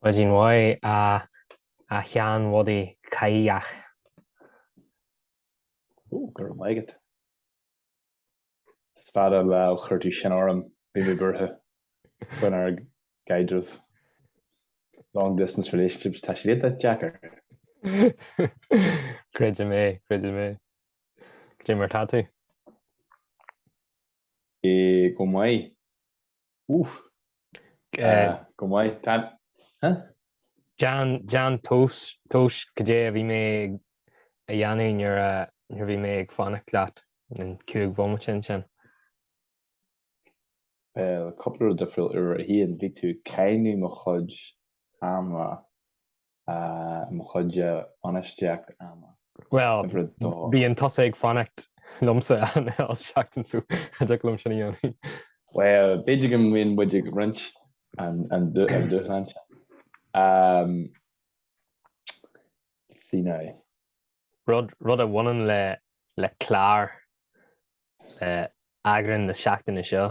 Maidin mhaith, a Sheáin Bhodaigh Cháidhigh. Ó, go raibh maith agat. Is fada an lá ó chuir tú sin orm. Bhí mé buartha faoin ár gcaidreamh. Long distance relationships, tá siad iontach deacair. Creidim é, creidim é. Cé mar tá tú? Go maith. Ooh. Go maith. Tá, huh? Déan, déan tomhas, tomhas caidé a bhí mé ag a dhéanamh nuair, nuair a bhí mé ag fanacht leat an cúig bhomaite ansin. Bhuel, cúpla rud difriúil. Uimhir a haon, bhí tú ag cáineadh mo chuid ama mo chuidse bainistíocht ama. Bhuel, bhíonn tusa ag fanacht liomsa achan seachtain so cha dtiocfadh liom sin a dhéanamh. Bhuel, b'fhéidir go mbíonn muid ag roinnt an dúshlán sin. Sea, nó. Rud a bhaineann le clár eagrán na seachtaine seo.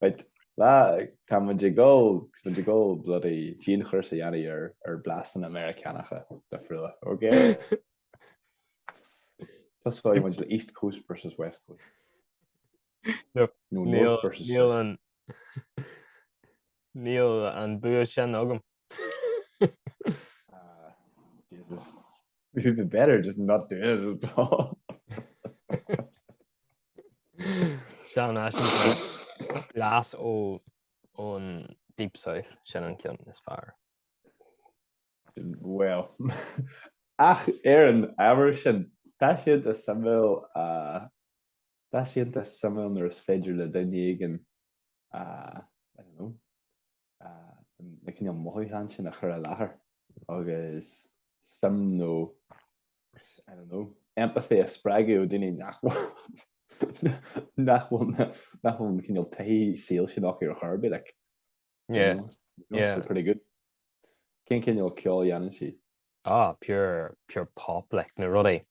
Right. Tá muid ag dul, tá muid ag dul bloody dianchúrsa a dhéanamh ar, ar blasanna Meiriceánacha do Phrua, ok? Tosóidh muid le East Coast versus West Coast. No, no, North versus South. Níl an bua sin agam. Ah, Jesus. It would be better just not doing it at all. Seán Ashington, glas ó ón Deep South, sin an ceann is fearr. Well, ach, ar an ábhar sin, tá sé iontach suimiúil, a Tá sé iontach suimiúil nuair is féidir le duine éigin a, I don't know, a, na cineál mothúcháin sin a chur i láthair agus suim nó, I don't know, empathy a spreagadh ó dhaoine nach bhfuil, nach bhfuil na, nach bhfuil an cineál taithí saoil sin acu, ar chor ar bith, like. Yeah. Yeah. They're pretty good. Cén cineál ceoil dhéanann sí? Ah, pure, pure pop, like, na rudaí.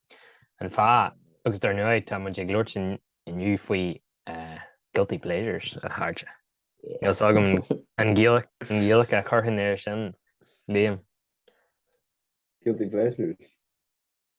An fáth, agus dar ndóigh, tá muid ag labhairt in- inniu faoi eh, guilty pleasures, a chairde. Níl a fhios agam an Ghaeilge, an Ghaeilge a chuirfinn ar sin, Liam. Guilty pleasures.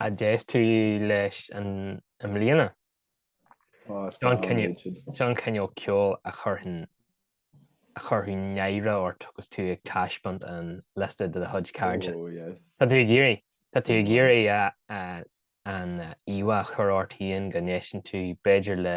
a d'éist tú leis i mbliana? Sea, an cineál ceoil a chuirfeadh náire ort agus tú ag taispeáint an liosta de do chuid cairde. Tá tú ag iarraidh, tá tú ag iarraidh an íomhá a chur ort féin go n-éisteann tú b'fhéidir le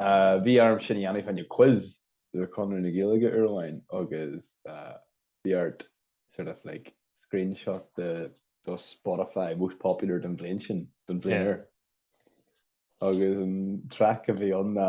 Bhí orm sin a dhéanamh fá choinne quiz le Conradh na Gaeilge uair amháin agus bhí ort sort of like screenshot de do Spotify most popular don bhliain sin don bhliain ar. Agus an track a bhí ann ná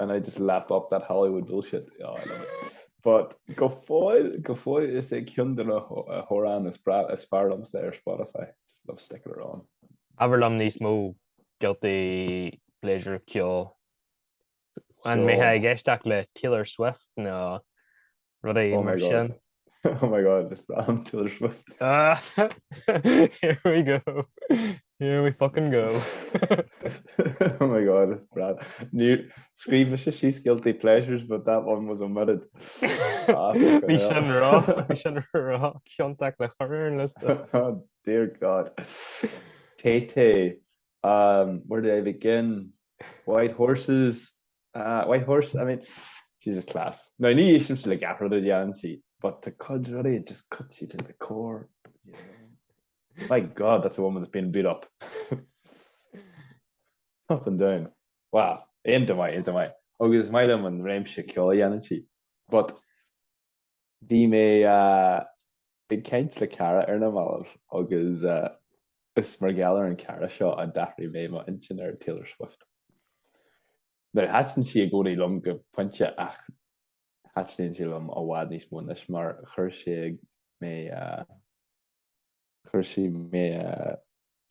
and I just lap up that Hollywood bullshit oh I love it but go fóill is é ceann de na hamhráin is fearr liomsa ar Spotify just love sticking it on. Abair liom níos mó guilty pleasure ceoil. An mbeidh tú ag éisteacht le Taylor Swift nó rud éigin mar sin. Oh my god, is breá liom Taylor Swift. Here we go, here we fucking go. Oh my god, is breá. Scríobh mise síos guilty pleasures but that one was omitted. Bhí sin ró, bhí sin ró ciontach le chur ar an liosta. Oh dear god. Tay Tay, um, where do I begin? White horses, Ah, White Horse, I mean, she's just class. Now, ní éistim le gach rud a dheanann sí, but tá cuid rudaí it just cuts you to the core, you know. My God, that's a woman that's been beat up. up and down. Wow, iontach maith, iontach maith. Agus is maith liom an réimse ceoil a dheanann sí. But, Bhí mé ag caint le cara ar na mallaibh agus is mar gheall ar an gcara seo a d'athraigh mé m'intinn ar Taylor Swift. Now thaitin sí i gcónaí liom go pointe ach thaitníonn sí liom i bhfad níos mó anois mar chuir sí mé chuir sí mé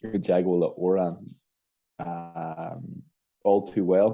i dteagmháil le hamhrán All Too Well.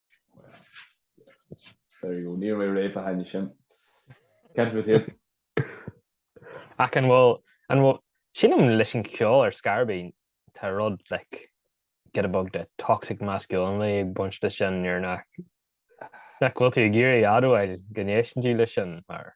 There you go. Níor mé réidh fá choinne sin. Can't with you. Ach an bhfuil, an bhfuil, sílim leis an ceol ar Scarby, tá rud, like, giota beag de toxic masculinity ag baint leis sin nuair nach, nach bhfuil tú ag iarraidh admháil go n-éisteann tú leis sin mar.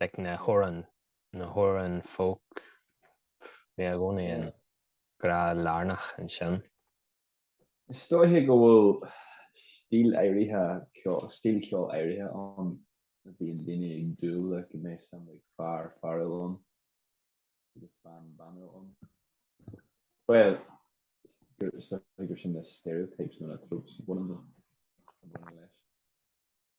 like na hamhráin na hamhráin folk bhí i gcónaí in grá lárnach ansin. Is dóigh go bhfuil stíl áirithe ceoil stíl ceoil áirithe ann a bhíonn daoine ag dúil le go mbeidh seo mar fear fearúil ann agus bean banúil ann bhuel is dóigh gur sin na stereotypes nó na tropes a bhaineann leis.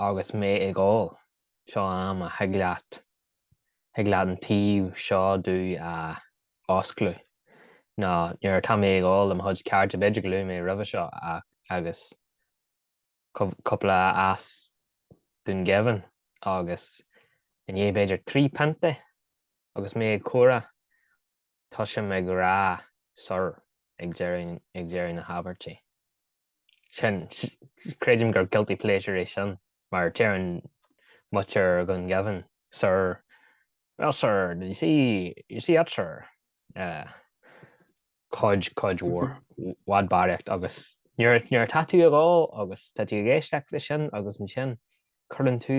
Agus mé ag ól, seo am a thig leat, thig leat an taobh seo díot a fhoscladh, nó nuair atá mé ag ól le mo chuid cairde, b'fhéidir gur luaigh mé roimhe seo agus cúpla as Dhún Geimhin agus i ndiaidh b'fhéidir trí pionta agus mé ag comhrá, tosaím ag rá sir ag deireadh, ag deireadh na habairte. Sin, creidim gur guilty pleasure é sin mar deireann muintir Dhún Geimhin sir, well sir, did you see, did you see that sir? Eh, cuid, cuid mhór, bhfad barraíocht agus nuair, nuair atá tú ag ól agus tá tú ag éisteacht le sin agus ansin cuireann tú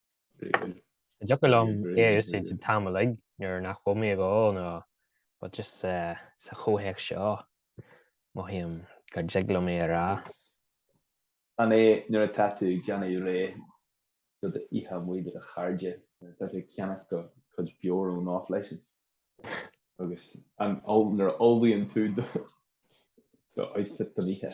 An dtiocfadh liom é a úsáid an t-am uilig nuair nach bhfuil mé ag ól? No but just uh, sa chomhthéacs seo mothaím gur dtig liom é a rá. An é nuair atá tú ag déanamh réidh do do oíche amuigh le do chairde tá tú ag ceannach do chuid beoir ón off license agus an nuair a ullmhaíonn tú do do outfit don oíche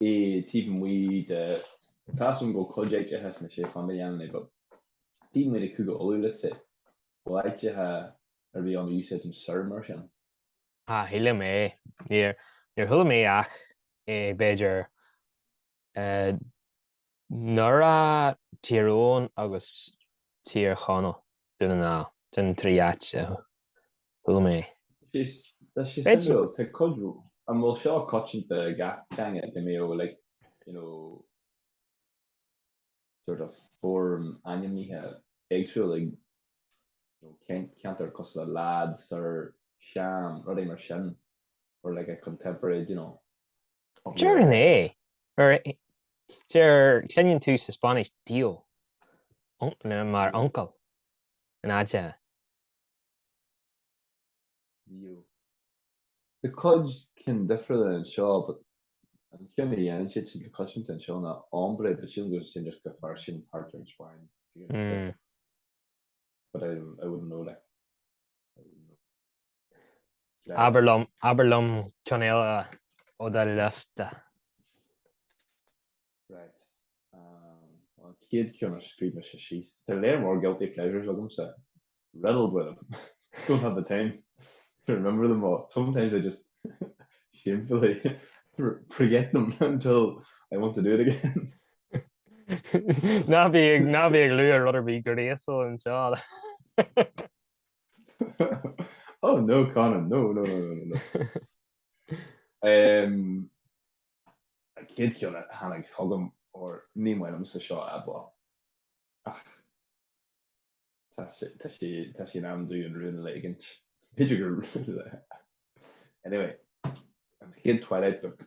é taobh amuigh de tá a fhios agam go bhfuil cuid áiteacha sna Sé Chondae a dhéanann é but taobh amuigh de Cúige Uladh let's say bhfuil áiteacha ar bith ann a úsáideann sir mar sin? Ah ní shílim é. Níor chuala mé ach é b'fhéidir eh. nDoire, Tír Eoghain agus Tír Chonaill, Dún na nGall, sin an trí áit a chuala mé é. Tá sé suimiúil, tá cuid, an bhfuil seo coitianta i gach teanga go mbíodh like you know sort of foirm ainmnithe éagsúil ag you know ceantar cosúil le lad, sir, sham, rudaí mar sin or like a contemporary d'you know. Deirfinn é. Mar cluineann tú sa Spáinnis tío mar uncail in áit eile. Tío. Tá cuid cinn difriúla anseo but an ceann a dhéanann siad siad go coitianta anseo ná hombre but sílim go sin just go fairsing thart ar an Spáinn. But I wouldn't know like. Abair liom, abair liom ceann eile ó do liosta. Right. Um, an chéad ceann a scríobh mise síos. Tá lear mór guilty pleasures agamsa. Riddled with them. Don't have the time to remember them all. Sometimes I just shamefully forget them until I want to do it again. Ná bí ag, ná bí ag lua rud ar bith gráisciúil anseo. oh no Conan no no no no no um, chéad ceann a tháinig chugam or ní maith liomsa seo a rá ach tá sé tá sé in am dom an rún a ligint b'fhéidir go anyway an chéad Twilight book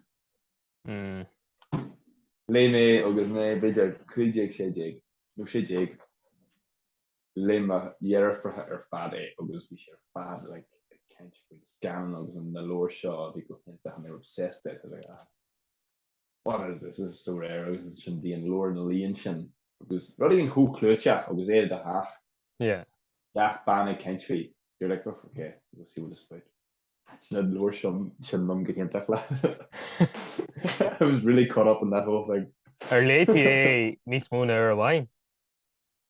mm. léigh mé agus mé b'fhéidir 15 16 nó 16 Léigh mo dheirfiúracha ar fad é agus bhí siad ar fad like ag caint faoin scannán agus an na leabhair seo a bhí go hiontach and they were obsessed with it like ah what is this, this is so rare agus ansin bhí an leabhar na líon sin agus rud éigin chomh clúiteach agus é de hach yeah gach bean ag caint faoi you're like oh okay we'll see what it's about na leabhar sin sin liom go hiontach like I was really caught up in that whole thing Ar léigh tú é níos mó ná uair amháin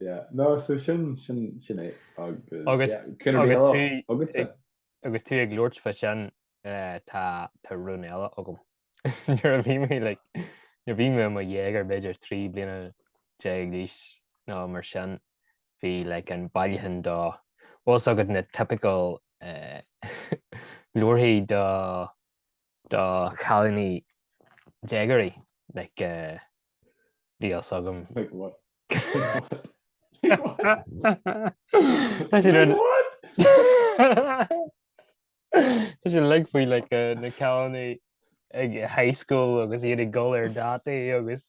Yeah no so sin sin sin é agus yeah céanna agus tú agatsa. agus tú ag labhairt fa sin eh, tá tá rún eile agam nuair a bhí mé like nuair a bhí mé mo dhéagóir b'fhéidir trí bliana déag d'aois nó mar sin bhí like an bailiúchán de bhfuil a fhios agat na typical eh, leabharthaí do do chailíní déagóirí like bhí fhios agam. Like what? Like what? Tá siad Like what? Tá siad like faoi like na cailíní ag high school agus iad ag dul ar dátaí agus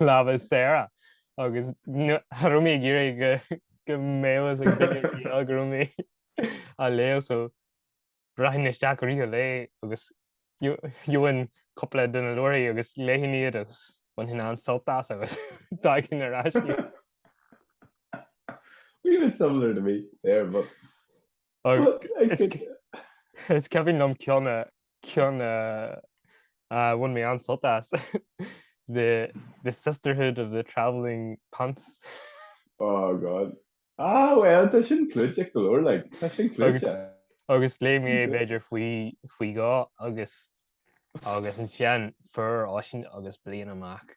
lámha is saora agus cha raibh mé ag iarraidh go go mbeadh a fhios ag duine eile go raibh mé á léamh so rachainn isteach uirthi a léamh agus gheobhainn cúpla de na leabharthaí agus léifinn iad agus bainfinn an-sult as agus d'fhágfainn ar ais iad. Were you a bit similar to me there but Is cuimhin liom ceann a ceann a bhain mé an-sult as the the sisterhood of the travelling pants. Oh God. Ah bhuel tá sin clúiteach go leor like. Tá sin clúiteach. Agus léigh mé b'fhéidir faoi faoi dhó agus agus ansin fuair Oisín agus bliain amach.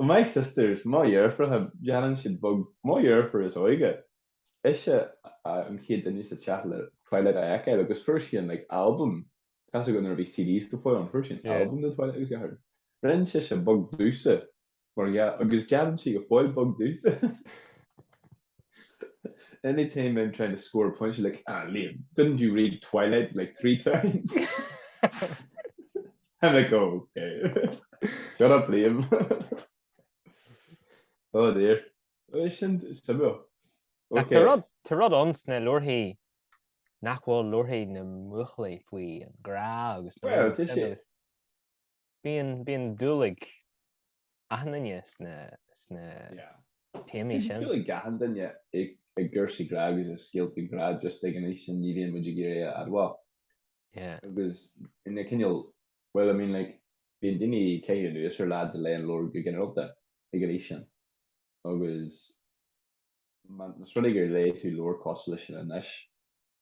My sisters, mo dheirfiúracha, déanann siad bog, mo dheirfiúr is óige, ise an chéad duine sa teach le Twilight a fheiceáil agus fuair sí an like album, casadh go nuair a bhí CDs go fóill ann, fuair sí an album de Twilight agus ghearr, rinne sise bog domhsa Mar dhea, agus déanann sí go fóill bog domhsa. Any time I'm trying to score a point she's like, ah Liam, didn't you read Twilight like three times? I'm like, oh okay. Shut up Liam. Oh dear. Is sin suimiúil. Ach tá rud, tá rud ann sna leabharthaí nach bhfuil leabharthaí na mbuachaillí faoi an grá agus na Well, tá sé- Bíonn bíonn dúil ag achan duine sna sna Yeah. téamaí sin. Dúil ag achan duine i i gcúrsaí grá agus i scéaltaí grá just ag an aois sin ní bhíonn muid ag iarraidh a admháil. Yeah. Agus ina cineál, well I mean like bíonn daoine ag caitheamh anuas ar leaids a léann leabhair go ginearálta ag an aois sin agus má, más rud é gur léigh tú leabhair cosúil leis sin anois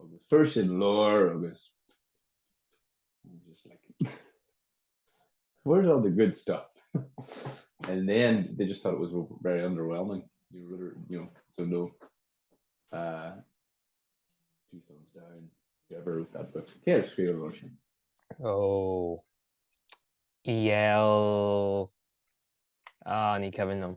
agus fuair siad leabhar agus just like where's all the good stuff and then they just thought it was very underwhelming you really you know so no uh two thumbs down you ever wrote that book yeah it's real Russian oh EL ah ni Kevin them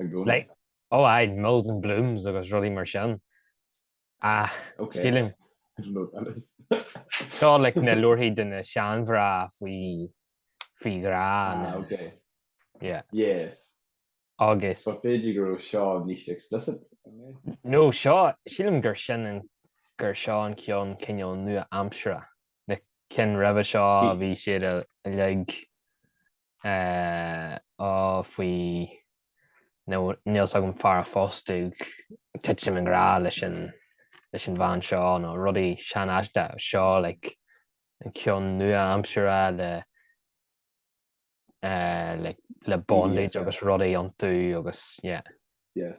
i gcónaí. Like, oh aye, Mills and Boons agus rudaí mar sin. Ach, sílim. I don't know what that is. Seo, like, na leabharthaí do na seanmhná faoi, faoi ghrá na. Ah, ok. Yeah. Yes. Agus. But b'fhéidir go raibh seo níos explicit, I mean. No, seo, sílim gur sin an, gur seo an ceann cineál nua-aimseartha. Na cinn roimhe seo a bhí siad a, a, like, Ó faoi nó níl 's agam fear a phósfadh titim i ngrá leis an leis an bhean seo nó rudaí seanaoiste seo like an ceann nua-aimseartha le le le bondage agus rudaí iontu agus yeah. Yes.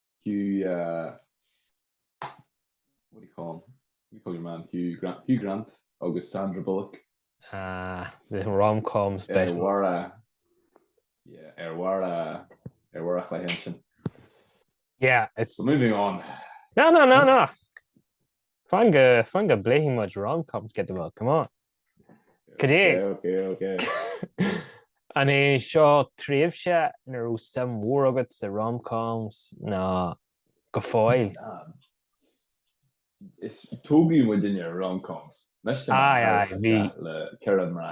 Hugh uh, what do you call him? What do you call your man? Hugh Grant, Hugh Grant agus Sandra Bullock. Ah, the rom-com Ar specials. mhar a... Yeah, ar mhar a... Ar mhar a chloigh sin. Yeah, it's... But moving on. No, no, no, no. Fan go fan go bpléifidh muid rom-coms get the milk come on. Cad é. Ok ok ok. An é seo tréimhse ina raibh suim mhór agat sa rom-coms ná go fóill? Is tógfaidh muid inniu rom-coms. Aye aye bhí. le ceithre mná.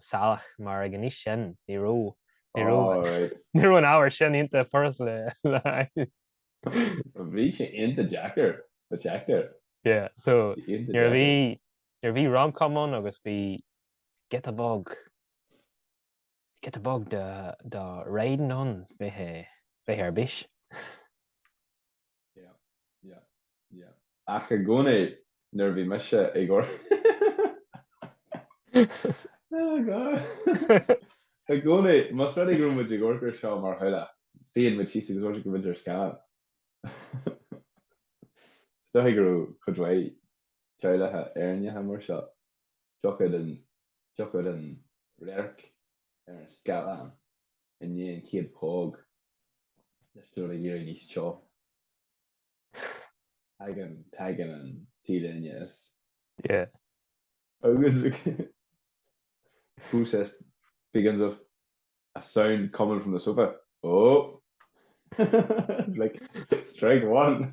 salach mar ag an aois sin ní raibh ní raibh Alright. ní raibh an ábhar sin iontach furast le le fáil. Bhí sé iontach deacair, deacair. Yeah, so Bhí sé iontach nuair a bhí deacair. nuair a bhí rom-com ann agus bhí giota bog giota bog de de riding ann bhí sé bhí sé ar bís. Ach i gcónaí nuair a bhí mise ag amharc oh I gcónaí más rud é go raibh muid ag amharc ar seo mar theaghlach, suíonn muid síos agus d'amharcfadh muid ar scannán. Is dóigh go raibh cuid mhaith teaghlacha Éireannacha mar seo, thiocfadh an radharc ar an scáileán i ndiaidh an chéad póg thosódh sé ag éirí níos teo. Tagann, tagann an T-léine as. Yeah. Agus process begins with a sound coming from the sofa. Oh. like strike one.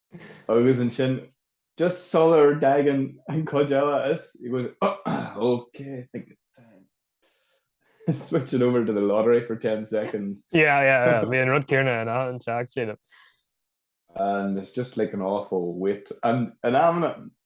Agus ansin just sular dtagann an cuid eile is he goes Ahh ok I think it's time to switch it over to the lottery for ten seconds. Yeah yeah yeah bhí an rud céarna in a' an teacht sílim. And it's just like an awful wait. And in amanna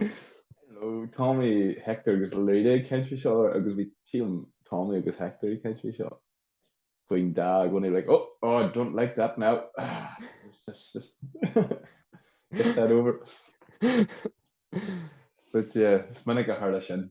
Hello, Tommy, Hector agus Laurita ag caint faoi seo agus bhí, sílim, Tommy agus Hector ag caint faoi seo. Going, Dad, when they were like, oh, oh, I don't like that now. Just, just get that over. But yeah, is minic a tharla sin.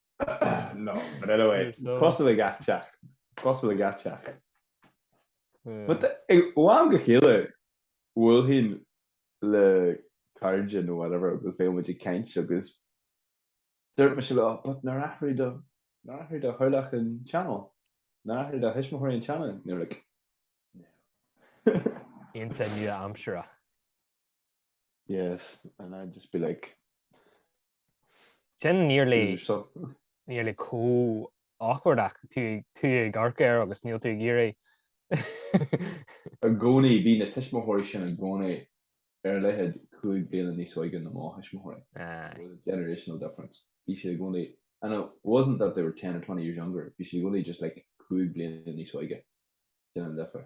No, but anyway, cosúil le gach teach, cosúil le gach teach. But ó am go céile, bhuailfinn le cairde nó whatever agus bheadh muid ag caint agus dúirt mise leo, but nár athraigh do, nár athraigh do theaghlach an channel? Nár athraigh do thuismitheoirí an channel? And they were like, no. Iontach nua-aimsearach. Yes, and I'd just be like, it's nearly is there something? nearly chomh awkward nach tú tú ag amharc air agus níl tú ag iarraidh. I gcónaí, bhí na tuismitheoirí sin i gcónaí ar a laghad cúig bliana níos óige na mo thuismitheoirí. Aye. There was a generational difference. Bhí siad i gcónaí, and it wasn't that they were 10 or 20 years younger, bhí siad i gcónaí just like cúig bliana níos óige. Sin an difear.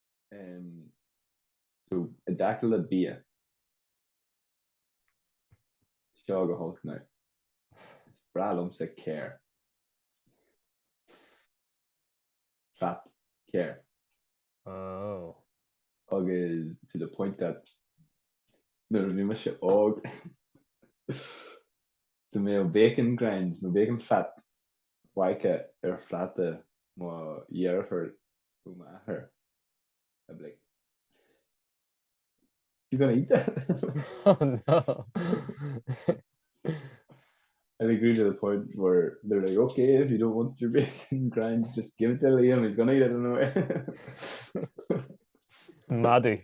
So i dtaca le bia, seo go holc now, is breá liomsa geir. Fat geir. Oh. Agus to the point that nuair a bhí mise óg dá mbeadh bacon grinds nó bacon fat fágtha ar phláta mo dheirfiúr nó m'athair I'd be like, you gonna eat that. Oh no! It grew to the point where they're like, ok, if you don't want your bacon grind, just give it to Liam, he's gonna eat it anyway. Madadh.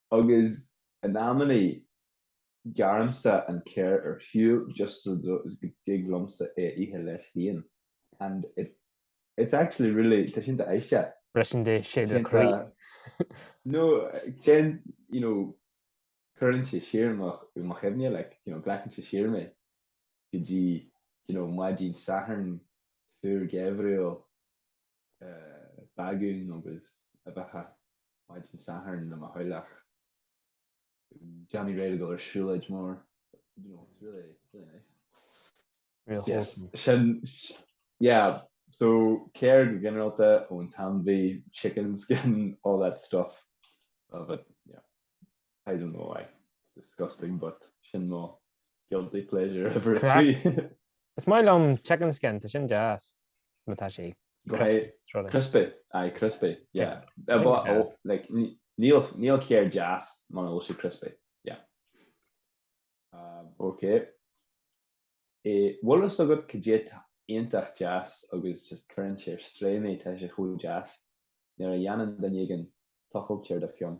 Agus in amannaí gearraim-sa an geir ar shiúl just so go dtig liom-sa é a ithe leis féin and it it's actually really, tá sin iontach aisteach. Briseann sé do chroí. No, téann, you know, cuireann sé siar mo, mo chuimhne like, you know, glacann sé siar mé go dtí, you know, maidin Sathairn fuar geimhriúil. bagún agus uibheacha maidin Sathairn le mo theaghlach. Ag déanamh réidh le dul ar siúlóid mór. You know, it's really, really nice. Real wholesome yes. Sin, yeah, so geir go generalta ón ainmhí, chicken skin, all that stuff. Love it. Yeah. I don't know why. It's disgusting but sin mo guilty pleasure ever Craic. trí. Is maith liom chicken skin, tá sin deas má tá sé crispy, crispy, aye crispy, yeah. Tá sin deas. But, oh, like, ní- níl, níl sé ar deas muna bhfuil sé crispy, yeah. Um, ok. Eh, bhfuil fhios agat cad é tá iontach deas agus just cuireann sé ar strae mé, tá sé chomh deas, nuair a dhéanann duine éigin tochas ar do cheann.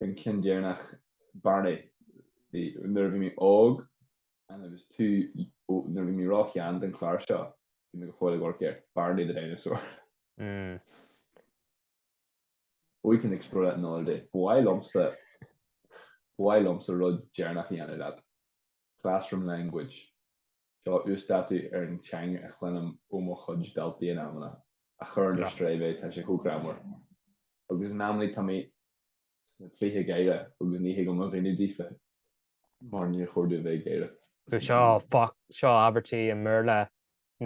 an ceann deireanach Barney bhí nuair a bhí mé óg and I was too ó nuair a bhí mé róshean don chlár seo bhí mé go fóill ag amharc air Barney the Dinosaur. Mm. We can explore that another day. Ba mhaith liomsa ba mhaith liomsa rud deireanach a dhéanamh leat. Classroom language. Seo uasdátú ar an teanga a chluinim ó mo chuid daltaí in amanna, a chuireann ar strae mé, tá sé chomh greannmhar. Agus in amannaí tá mé sna trithí gáire agus ní thig liom a mhíniú daofa mar níor chóir domh a bheith ag gáire. So seo, seo abairtí i mBéarla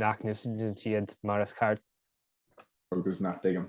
nach n-úsáideann siad mar is ceart. Agus nach dtuigim.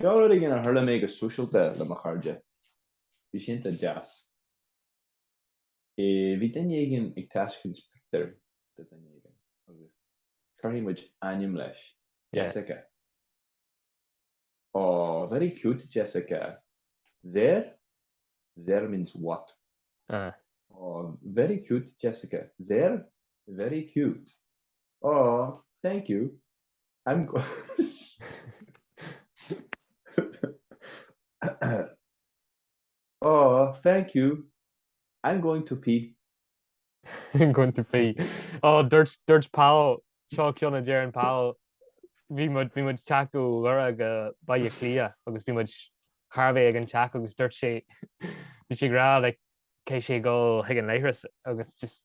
Seo rud éigin a tharla domh go sóisialta le mo chairde. Bhí sé iontach deas. Bhí duine éigin ag taispeáint pictiúr do duine éigin agus cuirfidh muid ainm leis, Jessica. Aww, very cute, Jessica. Zer? Zer means what? Aww, very cute, Jessica. Zer? Very cute. Aww, thank you. I'm go- Aww thank you I'm going to pee. I'm going to pee. Ó dúirt dúirt Pól seo ceann a deir an Pól bhí muid bhí muid ag teacht ó Dhoire go Baile Cliath agus bhí muid thar a bheith ag an teach agus dúirt sé bhí sé ag rá like go gcaithfidh sé dhul chuig an leithreas agus just